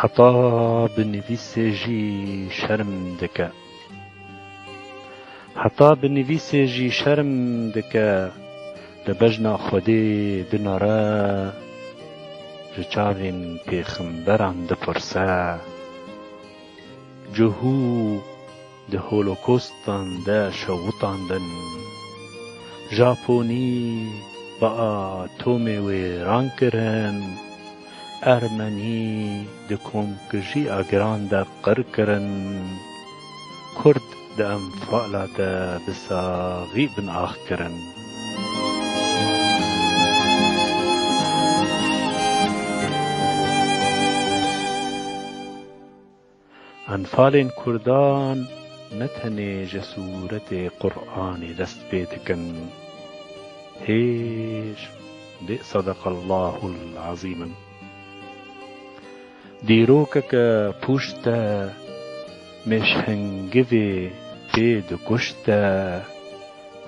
Heta binivîsê jî şerm dike. Heta binivîsê jî şerm dike li bejna Xwedê dinare ji çavên pêxemberan dipirse, Cihû! Di holokostan de şewitandin. Japonî bi atomê wêran kirin. Ermenî di komkujîya giran de qir kirin. Kurd di enfala de bi saxî bin ax kirin. Enfalên Kurdan ne tenê ji sûretê Quranê dest pê dikin. Hêj dê Sadaqallahul Azîm in. Dîrokeke pûşt de mêşhingivê pê dikuşte.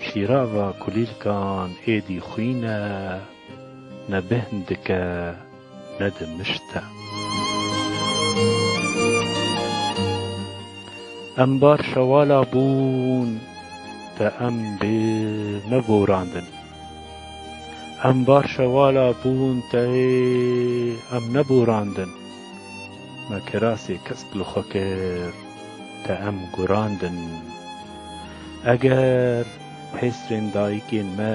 Şîrava kulîlkan êdî xwîn e. Ne bêhn dike ne dimişte. Em bar şewala bûn te em bê me borandin. Em bar şewala bûn te em ne borandin. Me kirasê kesk li xwe kir te em gurandin. Eger hêsrên dayikên me.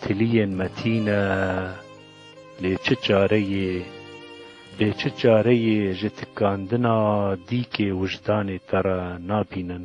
Tiliyên me tîne, lê çi çareyê? Lê çi çareyê ji tikandina dîkê wijdanê te re nabînin?